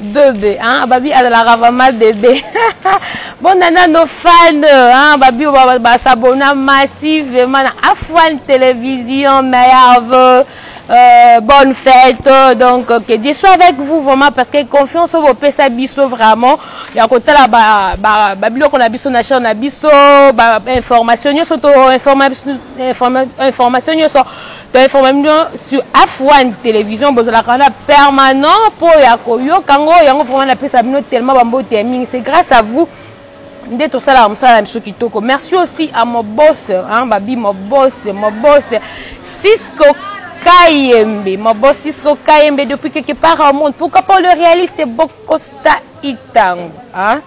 bebe hein, babi azalaka vraiment bebe bondanda no fan hein, babi basabona massivement na afan télévision merve Euh, bonne fête donc que Dieu soit avec vous vraiment parce que confiance au pesa biso vraiment ya kotala ba ba ba biloko na biso na chaîne na biso ba information nyoso to information information nyoso To informa bino sur F1 television bozalaka wana permanent po ya koyoka ngo yango vraiment na pesa bino tellement ba mbote ya mingi c'est grâce à vous nde tosalaka mosala na biso kitoko merci aussi à mon boss hein, babi mon boss mon boss Cisco Kayembe mon boss Cisco Kayembe depuis quelque part au monde pourquoi pas le réaliste Bocosta Itango hein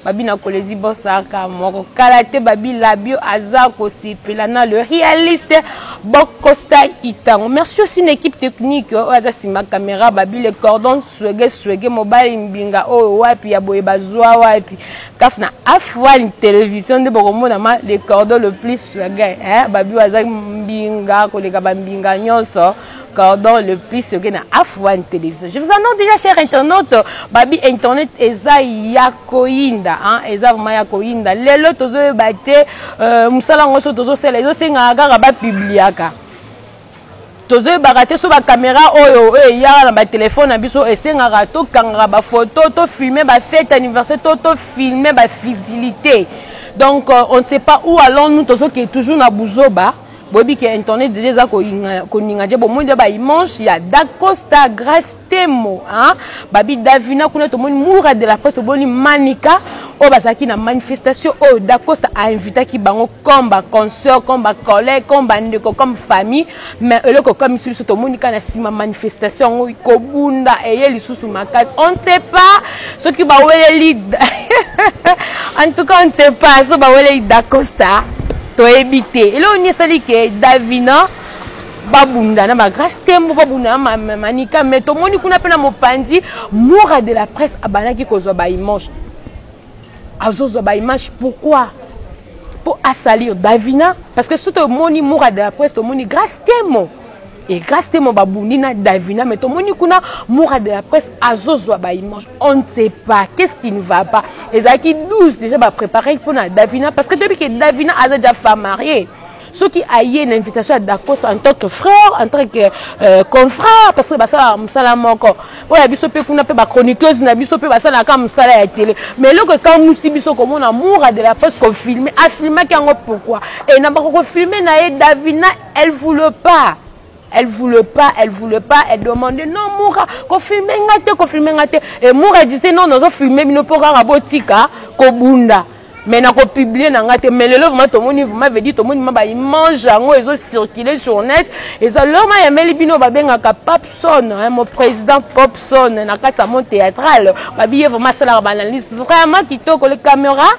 Babi na kolezi bosaka moko kala te babi labio aza kosepela na le réaliste bokosta itango merci aussi na équipe technique oyo aza sima caméra babi le cordon swege swege mobali mbinga oyo wapi ya boye bazwa wapi kaf na afwani télévision nde bokomona ma le cordon le plus swege eh babi aza mbinga koleka bambinga nyonso cordon le plus yoke na afwan télévision je vous annonce déjà cher internaute babi internet eza ya koyinda hein? eza vraiment ya koyinda lelo tozoyeba te euh, mosala yango so tozosala ezosengaka kaka bapubliaka tozoyebaka te so bakamera oyo oyo eyaka na batelefone na biso esengaka tokangaka bafoto tofilme bafete anniversaire to tofilme bafitilité donc euh, on ne sait pas où allons nous tozokende toujours na buzoba boyebi ke internet deja eza koninga je bomoni deja baimage ya dacosta grace temo babi davina kuna tomoni mura de la presse toboni manika oyo bazalaki na manifestation oyo dacosta ainvitaki bango comme baconcert comme bacollègue comme bandeko comme famille mais eloko ekomisi biso tomoni kaka na nsima manifestation yango kobunda eye lisusu makasi on ne sait pas soki baweleli en tout cas on ne sait pas so baweleli dacosta toyebi te eloko nini esali ke davina babunda na bagrace tembo babunda na manika mai tomoni kuna mpe na mopanzi mura de la presse abandaki kozwa baimage azozwa baimage pourquoi mpo asalir davina parce que soki tomoni mura de la presse tomoni grace temo et grâce temo babundi na davina mais tomoni kuna mura de la presse azozwa baimage on ne sait pas qu'est ce qui ne va pas ezalaki 12 déjà baprépare mpona davina parce que toyebi ke davina aza déjà femme mariée soki aye na invitation ya dakos en tant que frère en tant que euh, confrère parce que basalaka mosala moko oyo ya biso mpe kuna mpe bachroniqueuse na biso mpe basalaka mosala ya tele mais eloko ekamwisi biso komona mura de la presse kofilme afilmaki yango pourquoi e na bakokofilme na ye davina Elle voulait pas. Elle voulait pas, elle voulait pas, elle demandait non Moura, ko filmer nga te, ko filmer nga te. Et Moura disait non, nazo filmer bino po kaka botika ko bunda. Mais na ko publier na nga te. Mais lelo vraiment to moni vraiment veut dire to moni ma ba image yango ezo circuler sur net. Eza lelo ma yameli bino ba bengaka Popson, hein, mon président Popson na kati ya mon théâtral. Ba biye vraiment sala ba analyse vraiment kitoko le caméra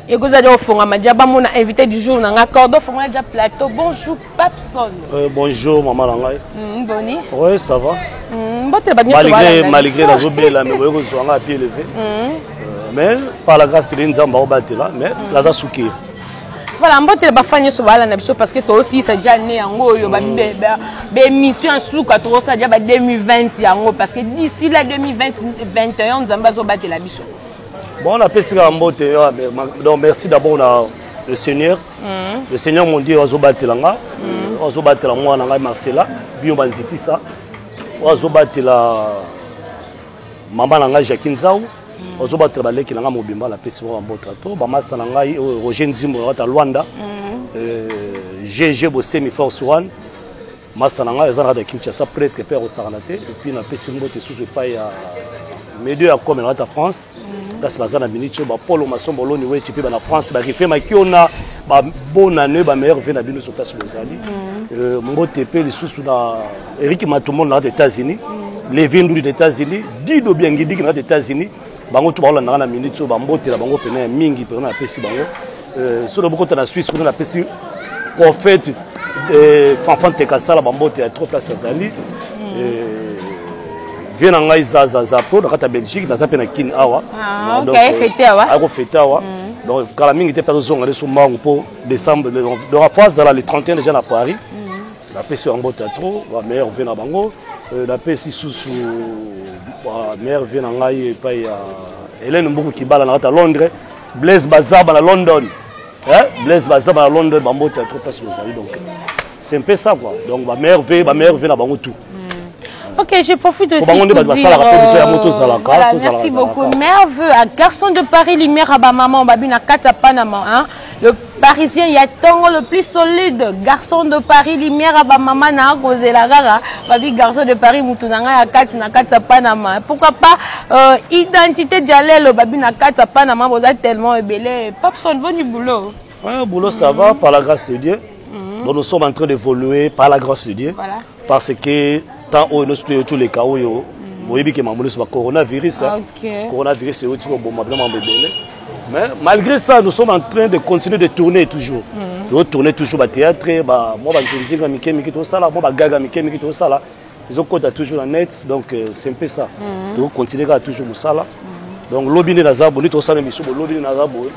ekozala nde ofongama dia bamona invité du jour na ngai cordo fongola dia plateau bonjour papson euh, bonjour mama na ngai mm, boni oui ça va mm, mbotela bato malgré malgré nazobela mais boye kozwa ngai apie levé mm. euh, mais par la grâce tele nzambe akobatela mais mm. naza sukiri voilà mbotela bafani nyonso balanda biso parce que tosilisa dia ne yango oyo baémission ya suka tokosala dia ba 2020 yango parce que d'ici la 2021 nzambe azobatela biso Bon, on a pesi kaka mbote yo donc merci d'abord na le Seigneur. Mm. Le Seigneur mon Dieu azobatela nga. Mm. Azobatela mwana ngai Marcela, bio banzitisa. Azobatela mama na ngai Jacqueline Zao. Mm. Azobatela baleki na ngai mobimba na pesi mwa mbote to ba master na ngai euh, Roger Nzimbo na Rwanda. Mm. Euh, GG Bosemi Force One. masta na ngai eza na kati ya kinshasa pretre mpe akosakana te epuis napesi mbote susu epai ya medio ya kome na kati ya france mhm. kasi baza na miniti oyo bapolo masombo oloni weti mpe bana france barife makiona babonane bameilleur vie na bino so place bozali mhm. euh, mbote mpe lisusu na eriki matumono na kati ya états-unis mhm. levi nduli na états-unis dido biangidiki na kati ya états-unis bango tu bakolanda nga na minute oyo bambotela bango mpena ya mingi mpena napesi bango euh, soki bokota na swisse kuna napesi prophète euh, fanfan tekasala bambote ya trop place azali mm. euh, vie na ngai zazaza mpo na kati ya belgique naza mpe na kin awa ah, akofete awa mm. donc kala mingi te mpe azozonga leso mbangu mpo décembre donc afo azala le 31 déjà na paris mm. napesi bango mbote ya trop ba meilleur vie na bango euh, napesi susu ba meilleur vie na ngai epai ya helene mbuku kibala na kati ya londres blaise bazaba na london eh? blaise bazaba na london bambote ya trop place bozali donc c'est un peu ça quoi donc ba meilleur vie ba meilleur vie na bango tout hmm. Ok, je profite aussi pour dire... Euh, voilà, merci beaucoup. Merveilleux, à Garçon de Paris, Lumière à ma maman, Babina Kata Panama. Hein. Le parisien ya tongo le plus solide garçon de Paris lumière à ba mama na kozela kaka babi garçon de Paris mutu na ngai ya kati na kati ya Panama pourquoi pas euh, identité dialelo babi na kati ya Panama boza tellement ebele Papson boni boulot ouais, boulot ça mm -hmm. va par la grâce de Dieu mm -hmm. donc nous sommes en train d'évoluer par la grâce de Dieu voilà. parce que temps oyo nyonso toyoti oleka oyo mm. boyebi ke mambo nyonso bacoronavirus ah, coronavirus euti koboma bino mambo ebele mais malgré ça nous sommes en train de continuer de tourner toujours mm. totourne toujours bathéâtre mwa banzinzinga mike mike tosala mwa bagaga mike mike tosala ezokota toujours na net donc euh, c'est un peu ça mm. tokocontinue kaka toujours mosala donc lobi nde naza boye nde tosala misu bo lobi nde naza boye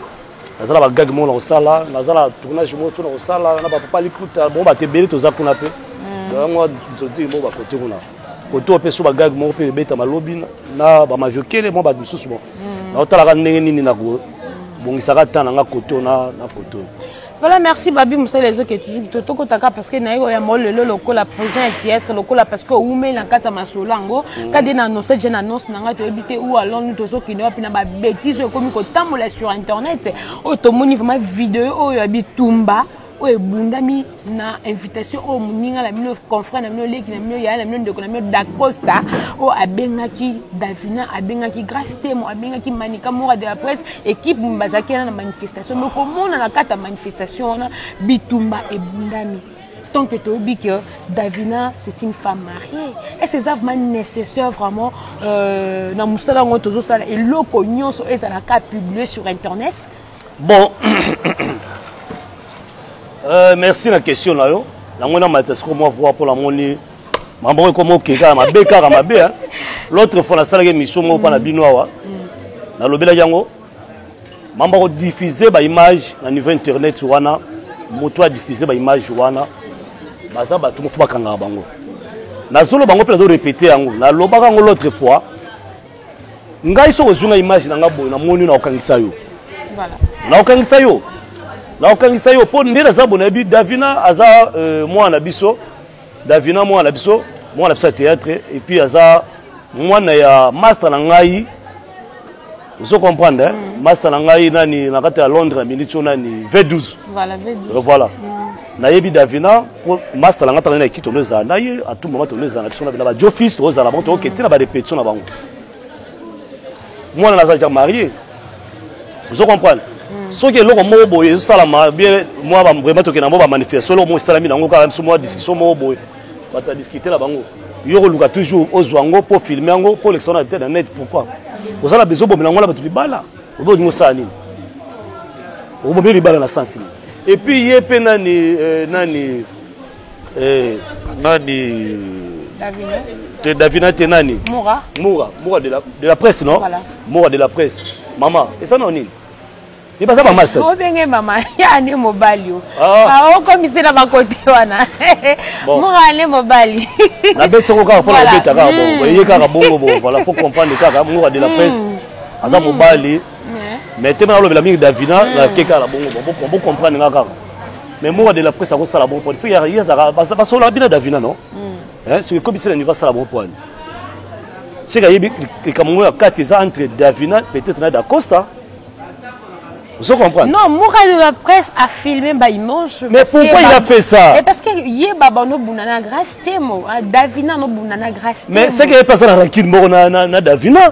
naza na bagage moko na kosala naza na tournage moko to na kosala na bapapa likuta bongo bato ebele toza kuna mpe mm. yango nsotiki moko bakote kuna koto mpe so bagage moko mpe ebeta malobi na bamajokele mwa bato mosusu bon mm. naotalaka ndenge nini nakobongisaka ntan na nga koto na koto voilà merci babi mosala ezoke toujours to tokotaka parce que naye oya moko lelo lokola président ya théâtre lokola parce que oumeli na kati ya masolo yango mm. kadi na annonce je na annonce na ngai toyebi te ou alonu tozokende wapi na betise oyo ekomi kotambola sur internet oyo tomoni vraiment video oyo ya bitumba oyo ebundami na invitation oyo moninga na bino confrère na bino leki na bino yaya na bino ndeko na bino dacosta oyo abengaki davina abengaki grace temo abengaki manika mora de la presse équipe bazalaki wana na manifestation mais komona na kati ya manifestation wana bitumba ebundami tant que toyebi que davina c'est une femme mariée est ce eza vraiment nécessaire vraiment euh, na mosala yango tozosala eloko nyonso ezalaka publie sur internet bon euh, merci na question na yo yango na malta siko mwa voi mpo namoni mama moko ekoma oke kaka mabe kaka mabe l'autre fois nasalaki émission moko mpa na bino awa mm. nalobelaki yango mamba ko diffuser ba image na niveau internet wana moto a diffuser ba image wana baza bato mofu bakangaka bango nazolo bango mpe nazo répéter yango nalobaka yango l'autre fois ngai soki ozwi nga image na nga boye namoni nakokangisa yo nakokangisa yo nakokangisa yo mpo nde naza bonayebi davina aza euh, mwana na biso Davina mwana na biso mwana na biso ya théâtre et puis aza mwana ya master na ngai ozo comprendre hein? Mm. master na ngai nani na kati ya Londres na minute oyo nani V12 voilà V12 euh, voilà mm. nayebi Davina po master na ngai tanga na kito no ezala na ye atumba mato no ezala na biso na bina ba Joe Fils tozala bango tokoketi na ba répétition na bango mwana naza deja marie ozo comprendre hmm. soki eloko moko boye ezosalama bien mwa vraiment tokende yango bamanifestation eloko moko esalami nango kaka biso mwa discussion moko boye bato badiskutela bango yo koluka toujours ozwa yango mpo filme yango mpo olekisa wana te na net pourkui oza na bezo obomela yango na bato libala obe olingi osala nini obomeli libala na sensi nini epuis ye mpe nani euh, nani Eh, nani Davina. te davina te nani Moura. mura mura de la, de la presse non Voilà. mura de la presse mama esana nini ye baza bamasta obenge mama ya ne mobali yo Ah. okomisi na bakote wana Bon. moka ne mobali nabeti yango kaka mpona Voilà. kobeta kaka Mm. bongo eye kaka bongo bo voilà faut comprendre kaka mura de la Mm. presse aza mobali mais te mpe nalobela mingi davina Mm. nake kaka bongo bo comprendre nga kaka mais moka de la presse akosala bon pwani soki ye azalaka basololaka bino davina no hmm. eh, soki ekobisi na niveau asala bon pwani soki ayebi likambo ngo ya kati eza entre davina peut-être na dacosta ozo comprendre non moka de la presse a filmé ba image mais pourquoi il a fait ça mais parce que ye baba no bunda na grace temo ah, davina no bunda na grace temo mais c'est que ye pasa na rancune moko na na davina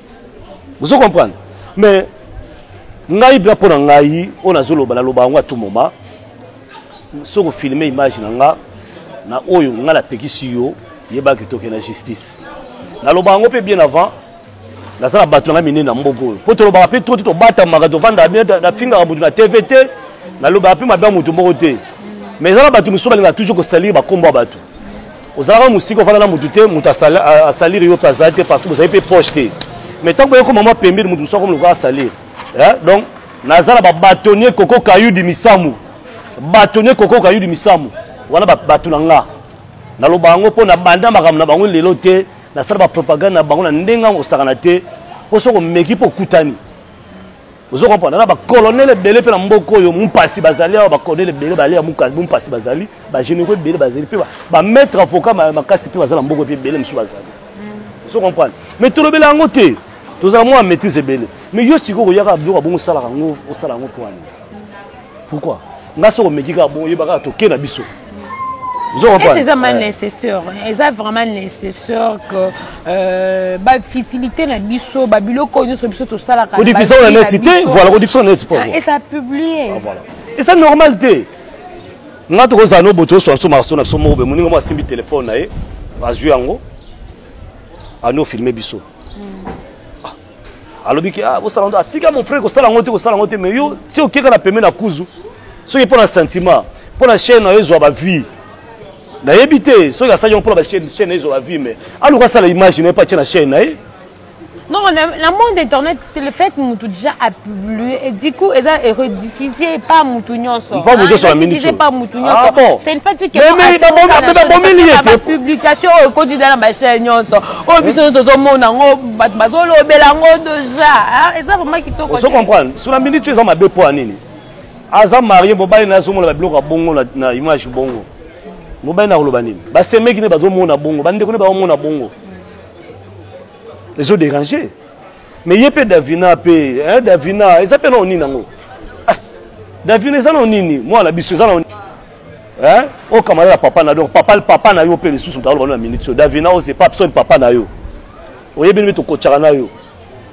ozo comprendre mais ngai bla mpo na ngai oyo nazoloba naloba yango atout moma soki ofilme image na nga na oyo ngai napekisi yo yebaki toke na justice naloba yango mpe bien avant naza na bato na ngai minene na mboka oyo mpo tolobaka mpe to te tobatamaka tofandaka bien nafingaka motu na tv te nalobaka mpe mabe ya motu moko te mais eza na bato mosusu balingaka toujours kosalire bakombo ya bato ozalaka mosika ofanda na motu te motu asalire yo mpe azali te parce que bozali mpe proche te mais ntango boye koma mwa pembeni motu mosusu akomi lokola asalire eh, donc naza na babatonnier koko kayudi misamu batonnier koko kayudi misamu wana bato na nga naloba yango mpo na banda makambo na bango lelo te nasala bapropagande na bango na ndenge yango osakana te mpo soki omeki mpo okutani ozo comprendre na bacolonel ebele mpe na mboka oyo mumpasi bazali awa bacolonel ebele bale ya mumpasi bazali bagénéraux ebele bazali mpe bamaître avocat makasi mpe baza na mboka mpe ebele mosusu bazali mm. ozo comprendre mais tolobela yango te tozala mwa maîtrise ebele mais yo sikoyo koyaka biloko abongo osalaka yango osala yango mpo wani pourquoi nga soko omeki kaka bongo yebaka toke na biso esi eza ma nécessaire eza vraiment nécessaire que euh, bafutilité na biso babiloko oyo nyonso biso tosalaka kodifisa na neti te voilà kodifisa na neti ah, eza publie ah, eza normal te nga tokozala no boto oswa biso maraso na biso moko be moninga moko asimbi telefone na ye azwi yango anofilme biso hmm. alobi ke ah, bosala ngo atika ah, mon frère kosala yango te kosala yango te mais yo ti okeka na peme na kuzu soki mpo na sentiment mpo na chaine na yo ezwa bavie nayebi te soki asali yango mpo na bachaine na ye ezwa bavie mais aluka asala image na ye mpo atye na chaine na ye non na monde internet le fait mutu déjà du coup eza rediffuser pas mutu nyonso mpo moto nyonso amini te pas mutu nyonso c'est une fête qui babomeli ye te publication oyo ekoti da na bachaine nyonso oyo biso nyonso tozomona yango bato bazolobela yango deja eza vraiment kitoko ozo comprendre sur la minute eza mabe mpo ya nini aza marie mobali na azomona babiloko ya bongo na image bongo mobali na koloba nini basemeki nde bazomona bongo bandeko nde bazomona bongo ezo déranger mais ye mpe davina mpe eh, davina eza mpe nao nini yango ah, davina eza nao nini mwana biso eza nao eh? okamala na papa na donc papa, papa na yo mpe lisusu taoloba na minute so davina ose pa psoni papa na yo oyebi nde tokotyaka na yo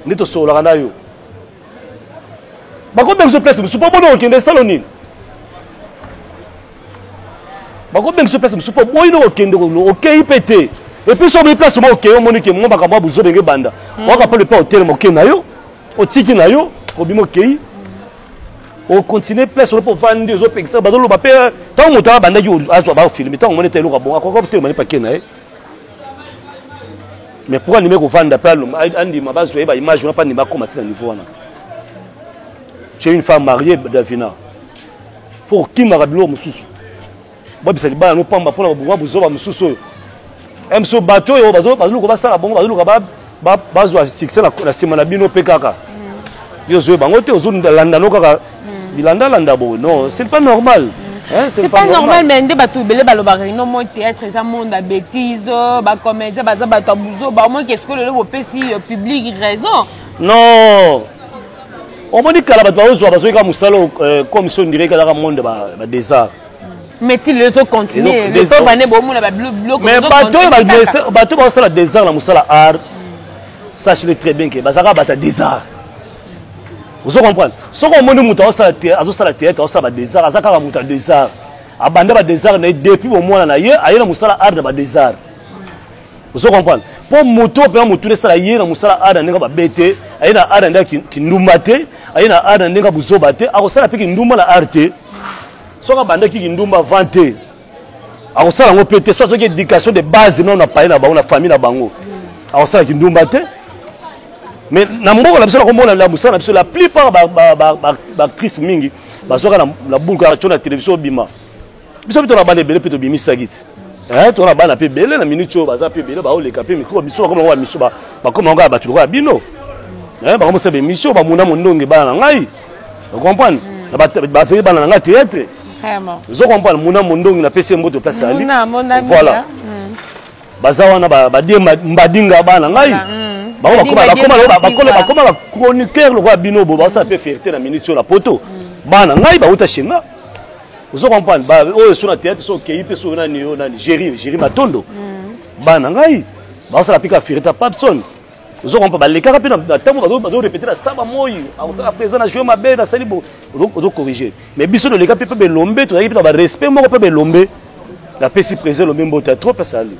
nde tosololaka na yo bakobengisa place mosusu mpo bona okende esalo nini bakobengisa yo place mosusu mpo boyi nde kokende okei mpe te epuis soki obi place moko okei omoni ke mwa makambo ya bozobe nge banda hmm. waka mpo lepa otelema okei na yo otiki na yo obimi okei okontinue place olopo ovandi ozopekisa bazoloba mpe ntango moto abandaki azwa bafilme ntango omoni ete eloko abonga akoka kotelema ne pake na ye mais pourquoi andimi kovanda mpe andima bazwa ye baimage wana mpe andima akoma ti na niveau wana tu es une femme mariée davina fo kokimaka biloko mosusu babisa libala no pamba mpona babonga bozoba mosusu oyo mso bato oyo bazoluka basala bongo bazoluka bazwa succès na nsima na bino mpe kaka yo ozoye bango te ozolanda no kaka hmm. bilandalanda boye non c'est pas normal mm. Hein, c'est pas, pas normal mais nde bato ebele balobaka ino moi théâtre eza monde ya bétise oh, bacomédien baza bato ya buzoba omoi kesko lelo bopesi euh, public raison non omoni kala bato bazozwa bazoki kaka mosala euh, comme si ondire kalaka monde badesart médecine ezo continuer le pauvre ane bomona babilokmais bato oyo bato bazosala desart na mosala art sachele très bien ke bazalaka bata desart ozo comprendre soki omoni moto azosala théâtre azosala badesart aza kaka moto ya desart abanda badesart na ye depuis bomwana na ye aye na mosala art na badesart ozo comprendre mpo moto oyo mpenza motuna esala ye na mosala ada ndenge babe te aye na ada ndenge kindumba te aye na ada ndenge buzoba te akosala mpe kindumba na ar te soki abandaki kindumba avant te akosala yango mpe te so azoki éducation de base nao na paye na bango na famille na bango akosala kindumba te mais na mboka na biso nakomona na mosala na biso la plupart baactrice mingi bazwaka na bulka aco na télévision obima biso mpe na bana ebele mpe tobimisaki ti eh, tona bana mpe ebele na minute oyo baza mpe ebele baoleka mpe mikro biso bakoma yango bamiso bakoma yango ya bato lokola bino eh, bakomosala bemission bamona mondonge bana na ngai ocomprendre mm. bazali bana na ngai teatre ozo comprendre mona mondongi napesi ye mboto place ali voilà mm. baza wana badie mbadinga bana ngai mm. bakoma bachroniqueur lokola bino bo baosala mpe fierté na minute oyo na poto bana ngai bauta chez nga ozo comprendre ba oyo esu na théâtre so okeyi mpe soki nani yo nani géri géri matondo hmm. bana ngai baosala mpe kafirita papson ozo comprendre balekaka mpe na ntango bazo répéter na saba moi akosala hmm. présent na joue mabe nasali bo ozo corriger mais biso toleka mpe mpe belombe tozalaki mpe na barespect moko mpe belombe napesi présent elombe mbote ya trop asali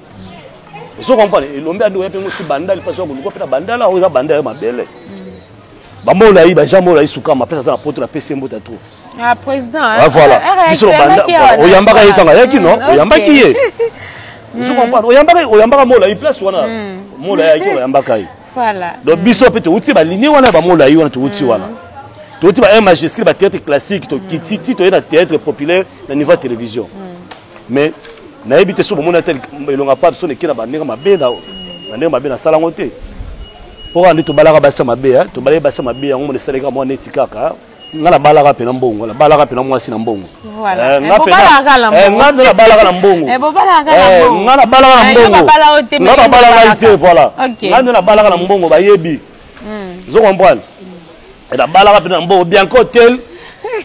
ozo comprendre elombe andi oya mpe mosi bandali mpasi ya koluka mpe na bandala oyo eza bandala ya mabele hmm. bamolayi bajean molayi sukama apesa aza na poto napesi ye mbote ya trop ah président ah, voilà ah, biso banda oyambaka ye tanga yaki non mm, oyambaki ye je mm. comprends oyambaka oyambaka mola i place wana mm. mola yaki oyambaka ye voilà donc biso pe touti ba ligne wana ba mola yi wana touti wana touti ba un majuscule ba théâtre classique to kiti ti to na théâtre populaire na niveau télévision mais nayebi te soki bomoni ata elonga pa biso leki na bandenge mabe na bandenge mabe nasala yango te mpo kaka nde tobalaka basi ya mabe tobalaki basi ya mabe yango mona esalaki mwa neti kaka nga nabalaka mpe na mbongo nabalaka mpe na mwasi na mbongo eh, eh, nga mpe nabalaka na mbongo eh, nga nabalaka na mbongo nga babalaka te voilà nga nde nabalaka na mbongo bayebi hmm. zo comprendre nabalaka mpe na mbongo bianco hotel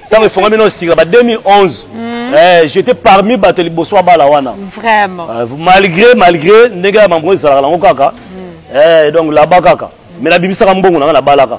ntango efongami na sika ba 2011 hmm. eh, j'étais parmi bato liboso abala wana vraiment euh, malgré malgré ndenge ya mambo ezalaka nango kaka hmm. eh, donc laba kaka mais nabimisaka mbongo na nga nabalaka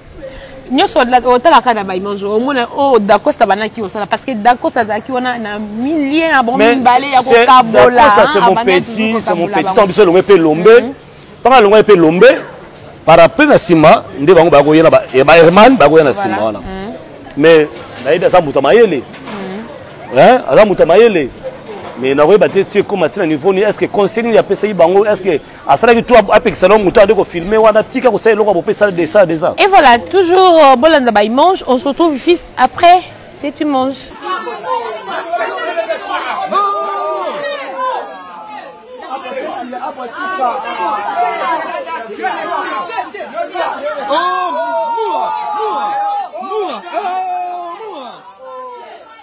nyonso otalaka na baimage omona oyo oh, dacosta banaki osala parce que dacosta azalaki wana na milie ya bango mibale ya kokabolaato biso elongo mpe elombe ntango alongo mpe elombe parapluie na nsima nde bango bakoya na baherman bakoya na nsima wana mhm. mais nayebi aza moto ya mayele mhm. aza moto ya mayele mais nakoyeba te ti ekóma ntina niveau nini est ce que conseil nini apesaki bango est ce que asalaki tu apekisa no moto ade kofilme wana tika kosala eloko ya bope sala desala deza et voilà toujours euh, bolanda baimange on se retrouve fils après c'est tu manges Oh,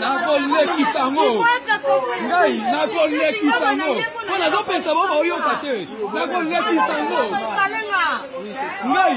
nakolekisa yango ngai nakolekisa yango mpo nazopesa bango baoyoka te nakolekisa yango ngai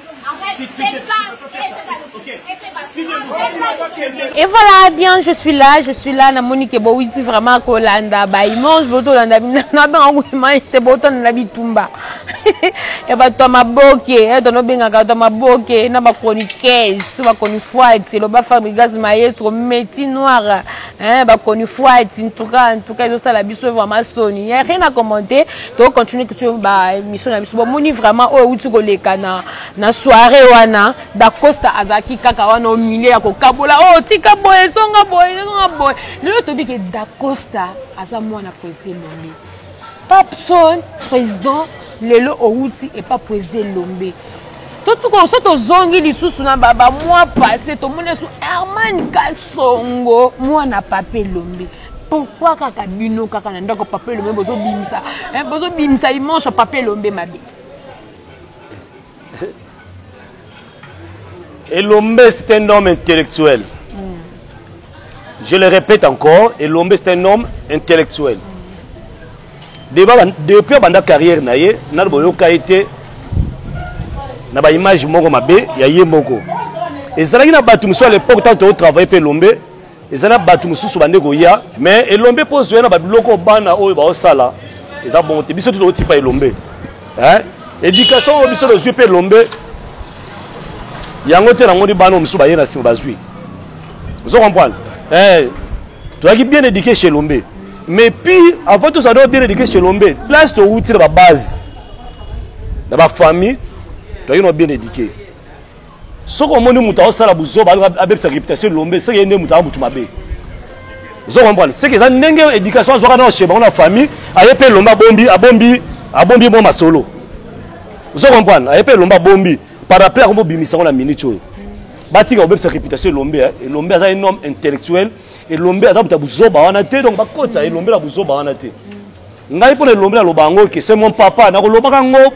Et voilà, bien, je suis là, je suis là, na monique bowiti vraiment kolanda, ba image boto landa bina, na benga ko image c'est boto na bitumba. Ya ba to maboke, ya eh, to no benga ka to maboke, na ba chroniqueuse, ba chronifuati, lo ba Fabrigas maestro, métier noir, hein, ba chronifuati, en tout cas, en tout cas, ils ont ça la biso vraiment soni. Il y a rien à commenter. to continue kutu ba émission na biso bomoni vraiment oyo euti koleka na, na soirée wana dacosta azalaki kaka wana omilie ya kokabola oyo oh, tika boye ezonga boye ezonga boye lelo toyebi ke dacosta aza mwana président elombe papson président lelo outi epa président elombe so tozongi lisusu na bamwa passe tomoni esu hermane kasongo mwana pape elombe pourquoi kaka bino kaka na ndako papa elombe bozobimisa eh, bozobimisa immense papa elombe mabe elombe c'est un homme intellectuel mm. je le répète encore elombe c'est un homme intellectuel mm. deba depuis abanda carrière na ye nano boyoka ye te na baimage moko mabe ya ye moko ezalaki na bato mosusu à l'époque ntango tozotravaille mpe elombe eza na bato mosusu bande koya mais elombe mpo ozwa na babiloko bana oyo baosala eza bongo te biso tuto otipa elombe éducation oyo biso tozwi mpe elombe yango te namoni bana oyo mosusu baye na nsima bazwi ozo comprendre eh, toyaki bien éduqué chez elombe mais pire avant tozala nao bien éduqué chez elombe place towuti na babase na bafamille toyaki nao bien éduqué soki omoni moto aosala buzoba alinga abebisa reputation elombe seke ye nde moto aa motu mabe ozo comprendre seke eza ndenge éducation azwaka na chez bango na famille aye mpe elombe abombi abombi abombi mwa masolo ozo comprendre aye mpe elombe abombi par rappel akomi obimisa yango na minute oyo batika kobebisa reputation elombe eh. elombe aza un homme intellectuel elombe aza moto ya buzoba wana te donc bakotisa elombe na buzoba wana te ngai mpo na elombe naloba yango ke se mon papa nakolobaka yango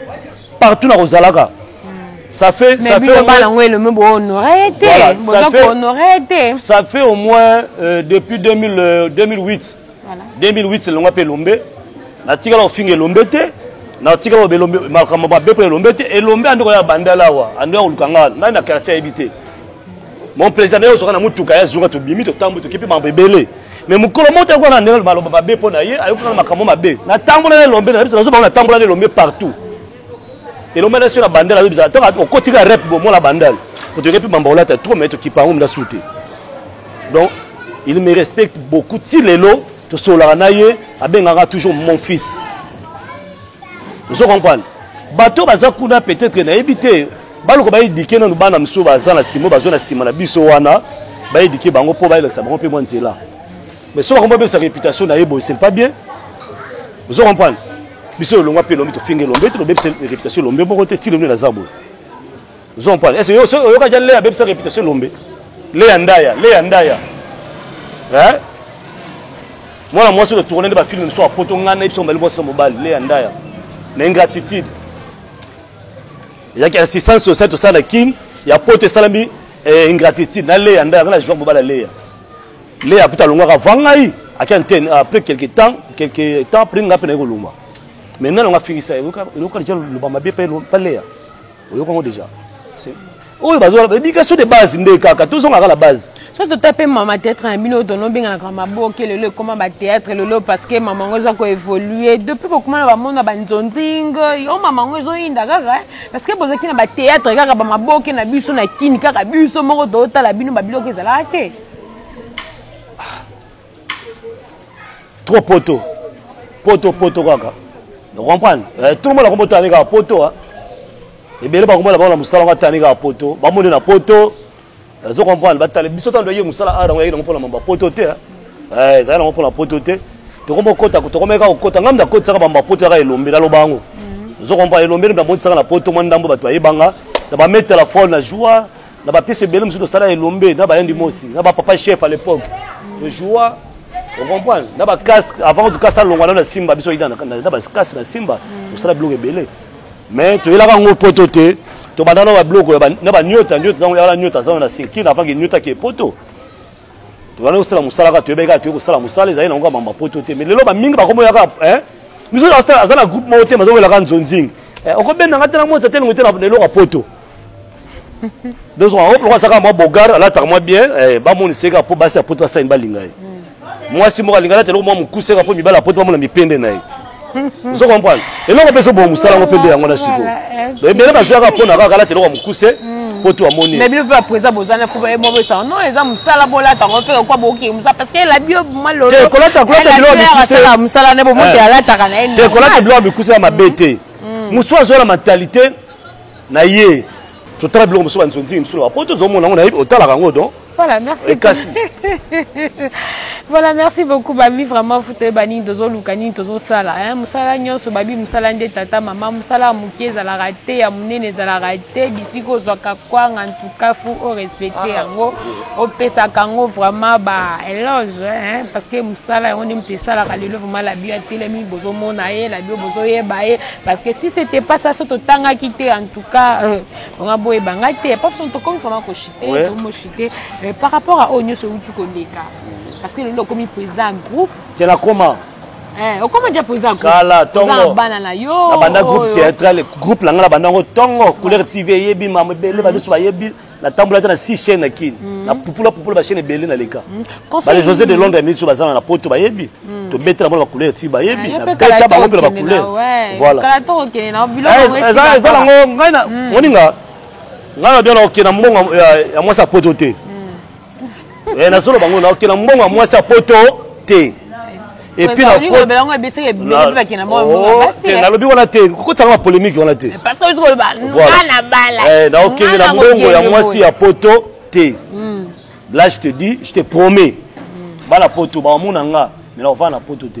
partout nakozalaka hmm. ça fait ça fait loba yango elombe bohonore te boza kohonore te ça fait au moins euh, depuis 2000, euh, 2008 voilà. 2008 elongwa mpe elombe natikala kofinga elombe te natikala loba elombe makambo mabe mpo elombe te elombe ande koya bandala awa ande ya koluka ngai ngai na quartier ayebi te mon président naye ozoka na motuka ya zonga tobimi totambo tokepi mambo ebele me mokolo moko tayakona na ndenge maloba mabe mpo na ye ayokaka na makambo mabe natambola na elombe nayebi nazo bango natambola na elombe partout elombe nasi na bandal ayebi zala ntango okotika rep bomona bandal otoke mpe mambo olata trop me tokipa yango mna sute donc il me respecte beaucoup ti lelo tosololaka na ye abengaka toujours mon fils ozo comprendre bato baza kuna peut-être nayebi te baluka baedike nanu bana mosusu baza na nsima bazo na nsima na biso wana baedike bango mpo bayelakisa bango mpe mwa nzela mais so bakombo babebisa réputation na ye boye c'est pas bien ozo comprendre biso lolongwa mpe elombe tofinga elombe te tobebisa réputation elombe moko te ti lombe naza boye ozo comprendre ese oyokaki ya leya abebisa réputation elombe leya ndaya leya ndaya mwana mwasi oyo tourne nde bafilme mosusu ya poto ngai nayebi so mobali mwasi na mobali leya ndaya na ingratitude yaki assistance sociale tosala na kin ya poto esalami eh, ingratitude na leya nda yanga na joueur mobala leya leya kuta alongwaka avant ngai ake antene après quelque temps quelque temps après ngai mpe naye kolongwa mais nano nga afingisa eloka deja loba mabe mpe leya oyoka yango deja oyo bazwa éducation de base nde kaka tozongaka na base so tota mpe mama théâtre na bino tono obenganaka maboke lelo ekoma bathéâtre lelo parce que mama yango eza koévolue depuis bokoma na bamona banzonzing yo mama yango ezoyinda kaka eh. parce que bozalaki na bathéâtre kaka bamaboke na biso na kini kaka biso moko tootala bino babiloko ezalaka te trop poto poto poto kaka comprendre eh, tout le monde akombo tani kaka poto hein. ebele bakomona bango na mosala ngo atani kaka poto bamoni na poto azo comprendre batale biso ntango toyei mosala ara yango yaki nango mpona mamba poto te eh, ezali nango mpona poto te tokomi okota tokomeka kokota ngambi nakotisaka bamba poto yaka elombe naloba yango mhm. ozo comprendre elombe nabotisaka na poto mwa ndambo bato bayebanga na bametela fol na joie na ba pièces ebele mosusu tosala elombe na bayendi mosi na bapapa chef à l'époque tojoua ocomprendre na bacasque avant tout cas alongwa nano na simba biso yina na bacasque na simba tosala biloko ebele mais toyelaka yango poto te tobanda na babiloko na baniota niota ntango yala niota azana na sirkine avant ke niota ke poto tobanda kosala mosala kaka toyebaki kaka toyei kosala mosala ezali na yango ya mama poto te mais lelo bamingi bakomoyaka biso aza na groupe moko te mazowelaka nzonzingi okobenda nga te na mota te lingo te na eloko ya poto ndozo yango moko azaka mwa bogar alataka mwa bien eh, bamonisa ye kaka mpo basi ya poto basani balinga ye hmm. mwasi moko alinga alata eloko mwa mokuse kaka mpo mibali ya poto bamona mipende na ye ozo comprendre eloko mpe ezoboma mosala yango mpe nde yango na sikoyo eh, ebele bazwaka mpo na kaka alata eloko ya mokuse hmm. po to amoni mais bino mpe bapresa boza na fuba ye moko esanga non eza mosala bolata yango mpe kokwa bookee mosala parce que elabi yo malolokolata biloko mosala ne bomoto eh. alataka na ye te kolata biloko ya mikuse ya mabe te hmm. mosusu azwa na mentalité na ye totala biloko mosusu banzonzingi mosusu na bapoto tozomona yango nayebi otalaka yango don voilà merci ekasi voilà merci beaucoup babi vraiment fo toyeba nini tozoluka nini tozosala mosala nyonso babi mosala nde tata mama mosala ya moke ezalaka te ya monene ezalaka te bisika ozwaka kwanga antuka fo orespecte ah, yango ah, opesaka yango vraiment ba eloge parce que mosala yango nde moto esalaka lelo vraiment labio atelemi bozomona ye labio bozoyeba ye parce que si c'était pas ça soki totangaki te en tout cas euh, nga boyeba ngai te pas façon tokomi vraiment kochute tomochute mais par rapport à oyo nyonso euti koleka parce que lelo okomi président ya groupe tela koma eh, okoma dia président kala tongo bana na yo nabanda groupe théâtral groupe na ngai nabanda yango tongo couleur tv eyebi mama ebele badusu bayebi natambola ata na six chaine na kin mhm. na pupula pupula bachaine ebele na leka mhm. bale josé de londres ya minute baza na na poto bayebi mhm. tobetela bango na bacouleur ti bayebi ah, nabeta bango mpe na bacouleur volaeza nango ngai moninga ngai na bia na okenda mbongo ya mwasi ya poto te eh, nazoloba yango naoke na mbongo ya mwasi ya poto te nalobi wana te kokotanga ba polémique wana te naokende na mbongo ya mwasi ya poto te hmm. là je te dis je te promets hmm. bana poto baomona nga me nakovanda na poto te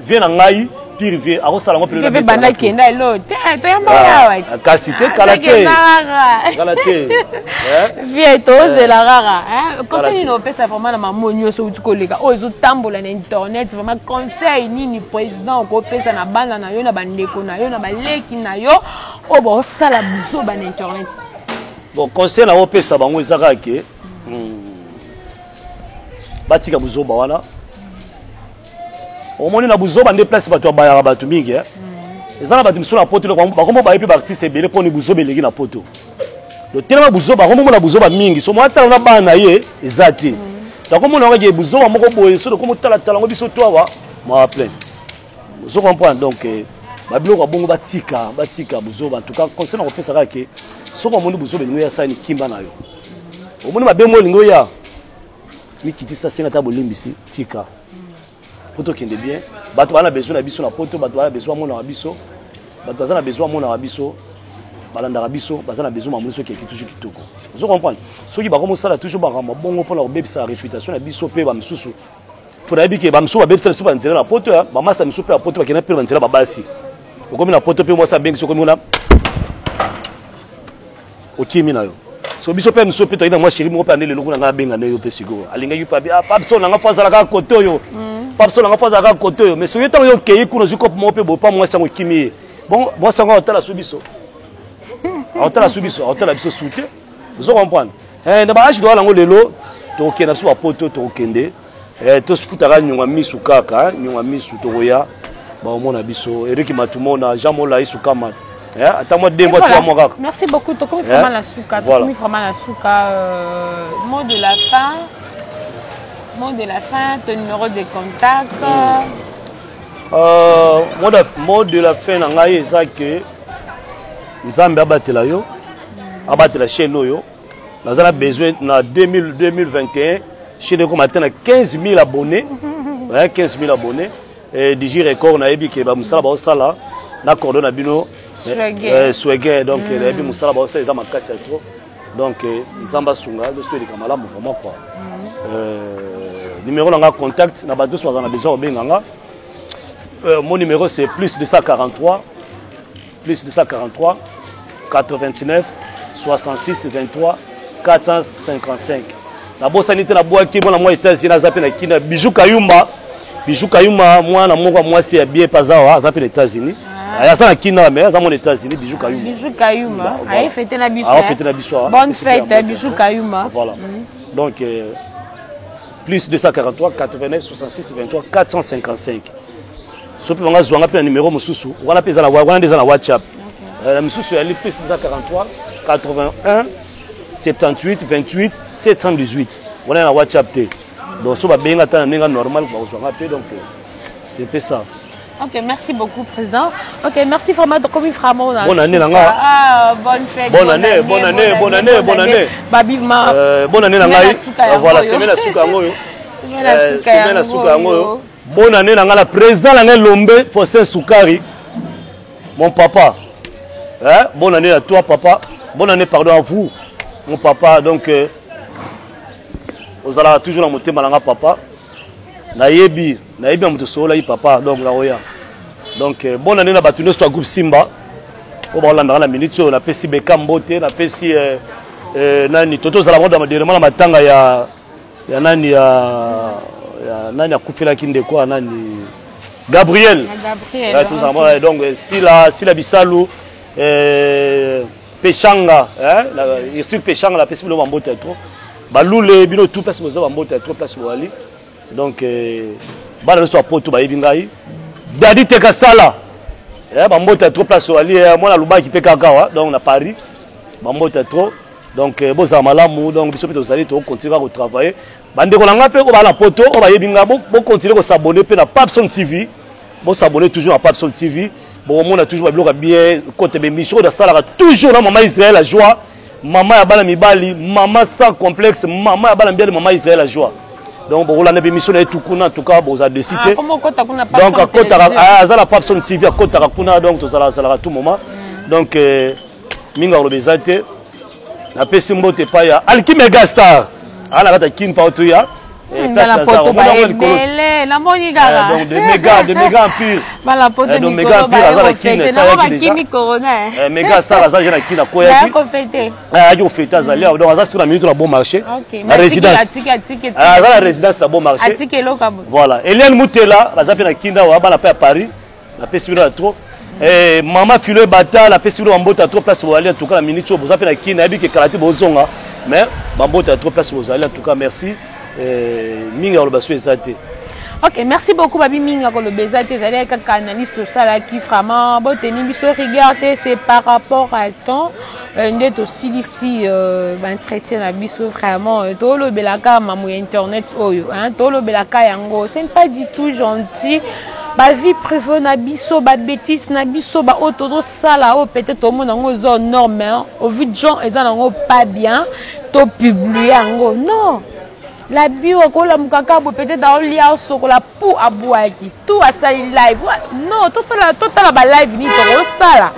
vie na ngai pire vie akosala ngo pire pe banda kenda elo te to yamba ah, yawa ah, kasi te kala te kala te eh? vie to eh. zela rara hein eh? conseil nini opesa vraiment na mamo nyoso uti koleka oyo ezo tambola na internet vraiment conseil nini président ko pesa na bana na yo na bandeko na yo na baleki na yo oyo bosala buzoba na internet bon conseil na opesa bango eza kaka ke hmm, batika buzoba wana omoni na buzoba nde place bato babayaka bato mingi eh? mm. eza na bato mosusu na poto bakomo baye mpe baartiste ebele mpo ni buzoba eleki na poto lotelema buzoba akomomona buzoba mingi so mwatala na bana na ye eza te mm. tokomona yango eke buzoba moko boye so tokomotalatala yango biso to awa mawa plein ozo comprendre donc eh, babiloko ya bongo batika batika buzoba antuka conseil na kopesa kaka ke soki omoni buzoba elingo ya sani kimba na yo omoni mabe mo elingo ya mikitisa senga ata bolimbisi tika mpo tokende bien bato baa na besoin na biso na poto bato baa na besoin amonaka biso bato baza na besoin amonaka biso balandaka biso baza na besoin bamoni soki eki toujours kitoko ozo comprendre soki bakomi osala toujours makambo bongo mpona kobebisa réputation na biso mpe bamisusu mpo nayebi ke bamisusu babebisa biso banzela na poto ya bamasa misusu mpe ya poto bakenda mpe banzela babasi okomi na poto mpe mwasi abengisi okomi kuna okimi na yo so biso mpe miso mpe toyaki na mwa sheri moko mpe ande lelo kuna ngai abenga nde yo mpe sikoyo alingaki mpe abi ah, papso na ngai fo azalaka kote oyo mm. papso na ngai fo azalaka kote oyo mais soki ntango yo okei kuna ozwi kope moko mpe boye mpa mwasi yango ekimi ye bon mwasi yango aotala so biso aotala so biso aotala biso su te ozo comprendre eh, na baage doya yango lelo tokokenda biso bapoto tokokende Eh, tosukutaka nyonga misu kaka eh, nyonga misu tokoya baomona biso eriki matumona jean molai sukamat eh, ata mwa dembo atwa mwa kaka merci beaucoup tokomi eh, vraiment na suka tokomi vraiment na suka euh, mot de la fin mot de la fin to numéro de contact hmm. euh, mot de la fin na ngai eza ke nzambe abatela yo hmm. abatela chaîne oyo naza na besoin na 2021 chaîne ekoma ata na 15 000 abonné na 15 000 abonné digi record nayebi ke bamosala baosala na cordo na bino swege eh, donc mm. nayebi mosala baosala eza makasi ya trop donc eh, nzambe asunga biso eleka malamu vraiment quoi mm. eh, numéro na nga contact na bato nyonso bazala na besoin kobenga nga mon numéro c'est plus 243 plus 243 89 66 23 455 nabosani te nabwaki mwana mwa etats-unis aza mpe na kina bijou kayumba bijou kayumba mwana moko ya mwasi ya bien mpe aza wa aza mpe na états-unis ah. aza na kina me aza mwana états-unis bijou kayumba bijou kayumba aye fete na biso aye fete na biso ah. bonne fête bijou kayumba voilà mm. donc euh, plus 243 89 66 23 455 soki mpe banga zwanga mpe na nimero mosusu wana mpe eza na wana nde eza na whatsapp euh, na misusu ya lipis eza 43 81 78 28 718 wana ya na whatsapp te donc so babenga ata na ndenge normal bakozwanga mpe donc euh, c'est mpe ça Ok, merci beaucoup, Président. Ok, merci vraiment. Donc, comme vraiment, bonne année, Nanga. Ah, bonne fête. Bonne, année, bonne année, bonne année, bonne année. Babi, ma. Euh, bonne année, Nanga. Voilà, semaine à Soukangoyo. Semaine à Soukangoyo. Bonne année na nga na president na nga elombe Faustin Sukari mon papa eh, bonne année à toi papa bonne année pardon à vous mon papa donc euh, ozalaka toujours na motema na nga papa nayebi nayebi ya moto osololaki papa donc naoya donc euh, bonne année na bato nyonso ya groupe simba oyo baolandaka na minute oyo napesi beka mbote napesi euh, euh, nani toto ozala moda maderema na matanga ya ya nani ya ya nani akufelaki ndeko ya nani Gabriel Gabriel eh, tozala mwana eh, donc eh, sila sila bisalu eh, peshanga hein la Ursule peshanga la pesi bino bambota trop balule bino tout place boza bambota trop place boali donc eh, bana nyonso ya poto bayebi ngai dadi teka sala eh, bambota trop place oali eh, mwana alubaki mpe kaka wa donc na paris bambota trop donc eh, bozala malamu donc biso mpe tozali tokokontinue kaka kotravaille bandeko na ngai mpe oyo baa na poto oyo bayebi ngai bokontinue kosabone mpe na papson tv bosabone toujours na papson tv bokomona toujours babiloko ya bien kote bemission oyo nasalaka toujours na mama israel ya joie mama ya bana mibali mama sans complexe mama ya bana mibali mama israel ya joie donc bokolanda bemission na ye tukuna en tout cas boza desi te ah, donc akotaka ah, aza na papson tv akotaka kuna donc tozalaka zalaka tout moment mm. donc euh, mingi ya koloba eza te napesi mbote epai ya alkime gastar aa na kati ya kin pao tuya namoni kakadomega empire aza na kin mega star aza je na kin akoyaki ayaki kofete azali awa donc aza siko na minute na bon marché na résidence aza na résidence na bon marché voilà eliane mutela baza mpe na kin awa bana mpe ya paris napesi bino ya trop eh, mama filo ebata napesi bino bambota trop place boyali en tout cas na minute oyo boza mpe na kini nayebi ke kala te bozonga mais bambota trop place bozali en tout cas merci eh, mingi ya koloba so eza te ok merci beaucoup babi mingi ya koloba eza te ezali kaka analyse tosalaki vraiment boteni biso rigueur te c'est par rapport à temps Euh, nde tosilisi euh, baentretien na biso vraiment euh, tolobelaka mamu ya internet oyo tolobelaka yango ce n'est pas du tout gentil bavie privé na biso babétise na biso baoyo tozosala oyo peut-être omona yango eza norme au vu de gens eza nango pas bien topublie yango non la bio akolamukaka bo peut-être aolia osokola pu abwaki tu asali live no tosala totala ba live nini tokosala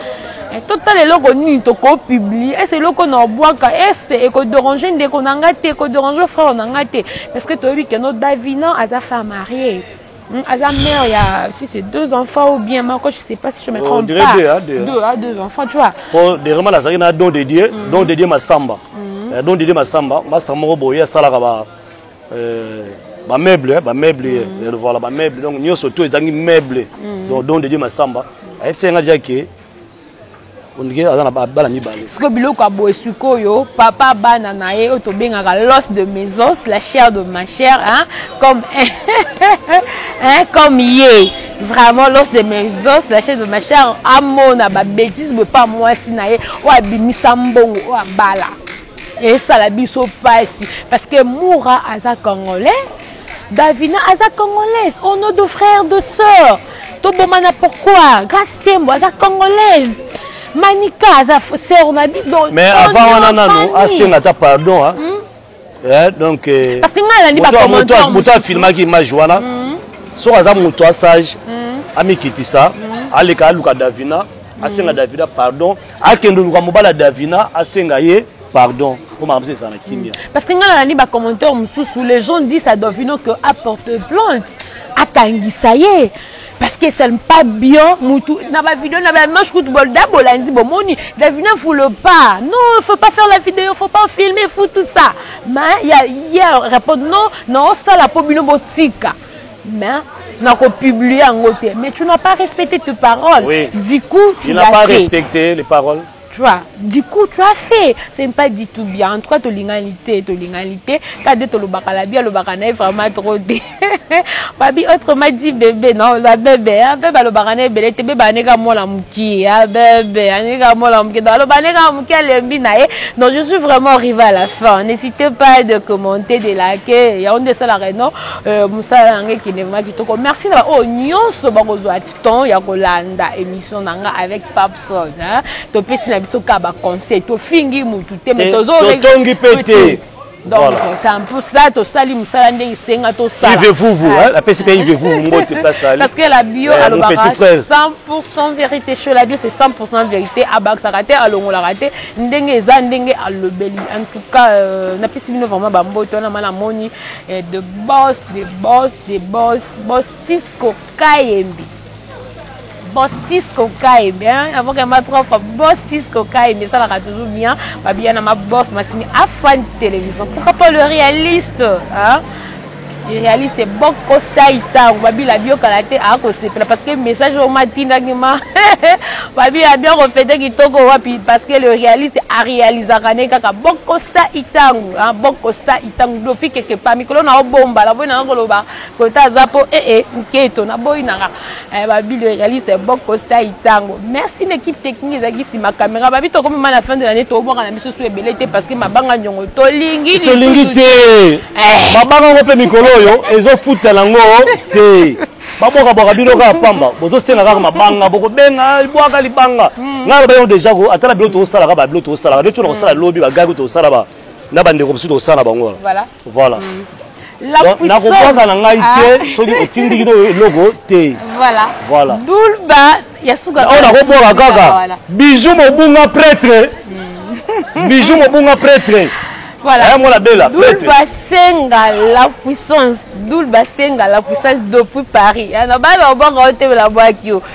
eh, totala eloko nini tokopublie ese eloko na obwaka ese ekoderange ndeko na ngai te ekoderange frere na ngai te parce que toyebi keno davina aza femme marie hmm, aza mère ya si c'est deux enfants ou bien moko je sais pas si je me oh, trompe oh, pas deux, hein, deux, deux, hein, deux enfants tu vois po derema nazalaki na don de dieu mm. don de dieu masamba mm. eh, don de dieu masamba master moko boye asalaka ba Euh, ba meuble eh, ba meuble eh, mm. eh, voilà ba meuble donc nyoso to ezangi meuble mm. donc don de Dieu masamba ayebisa nga déjà que ondike aza na bana mibale sikoyo biloko ya boye sikoyo papa bana na ye oyo tobengaka los de maisons la chair de ma chair hein? comme hein? comme ye vraiment los de maisons la chair de ma chair amona babétise boye mpa mwasi na ye oyo abimisa mbongo oyo abala esala biso pasi parce que moura aza congolais davina aza congolaise au nom de frère de sœur tobomana pourquoi grace tembo aza congolaise manika aza sœur na biso mais avant wana nanu asenga ata pardon hein? mm? eh, donc eh, parce que ngai nalandi bacommentaire moto afilmaki image wana mm. soki aza moto asage mm. amikitisa mm. aleka aluka davina asenga mm. davina pardon akende oluka mobali ya davina asenga ye pardon mpo makambo se ezala na kimia mm. parce que ngai nalandi bacommentaire mosusu les gens disent à davino que apporte plainte akangisa ye parce que ça ne pas bien mutu na ba vidéo na ba image kutu bolda bolandi bomoni davina vous le pas non faut pas faire la vidéo faut pas filmer faut tout ça mais il y a, y a répondre non non ça la po bino botika mais nako publier yango te mais tu n'as pas respecté tes paroles oui. du coup tu n'as pas respecté les paroles tu vois du coup tu as fait c'est pas du tout bien en tout cas tolingani te tolingani te kade tolobaka la bi alobaka na ye vraiment trop te babi autrement dit bebe non la bebe hein, bebe alobaka na ebele te bebe aneka mwana mokie hein, bebe aneka mwana mokie donc aloba aneka mokie alembi na ye donc je suis vraiment arrivé à la fin n'hésitez pas de commenter de liker yango nde esalaka non Euh, mosala na ngai ekende vraimen kitoko merci na baoyo oh, nyonso bakozwa temps ya kolanda émission na ngai avec papson topesi na biso kaka baconseil tofingi motu te me tozotongi mpe te donc c'est un peu ça tosali mosala nde esenga tosala ive vuvu apesi mpe ive vuvu mbote place ali parce que la bio eh, alobaka 100% vérité chez la bio c'est 100% vérité abakisaka te alongolaka te ndenge eza ndenge alobeli en tout cas euh, napesi bino vraiment bambote wana mana moni Eh, the boss, the boss, the boss, boss Cisco Kayembi. Boss Cisco Kayembi, hein? Avant qu'elle m'a trop boss Cisco Kayembi, ça l'a toujours bien. Babia na ma boss, ma simi, afan télévision. Pourquoi pas le réaliste, hein? réaliste bokosa itango babila biokala te akosepela parce que message oyo matindaki ma babila bio kofete kitoko wapi parce que le réaliste arealisaka ne kaka bokosa itango bokosa ntango dopi kekepa mikolo na obomba naboyi nanga koloba kota aza mpo ee eh, eh, nketo naboyi nanga eh, babili realiste boko stai ntango merci na équipe technique ezalaki nsima caméra babi tokomema na fin de l'année tobwaka na biso su ebele te parce que mabanga nyongo tolingi tolingi te mabanga yango mpe mikolo oyo ezofuta nango te babwakabwaka bino kaka pamba bozosenga kaka mabanga bokobenga bwaka libanga hmm. ngai loba yango deja ko atala bilo tokosalaka babilo tokosalaka nde tona kosala hmm. lobi bagaki tokosala ba na bandeko mosusu tosala na bango wana voilà nakobwaka na ngai te ah. soki otindiki no eloko te voilà dulba ya suka oyo nakobwaka kaka bijou mobunga pretre hmm. bijou mobunga pretre voilà eh, mwana bela pretre basenga la puissance dul basenga la puissance depuis paris eh, na bana obwaka otebela bwaki yo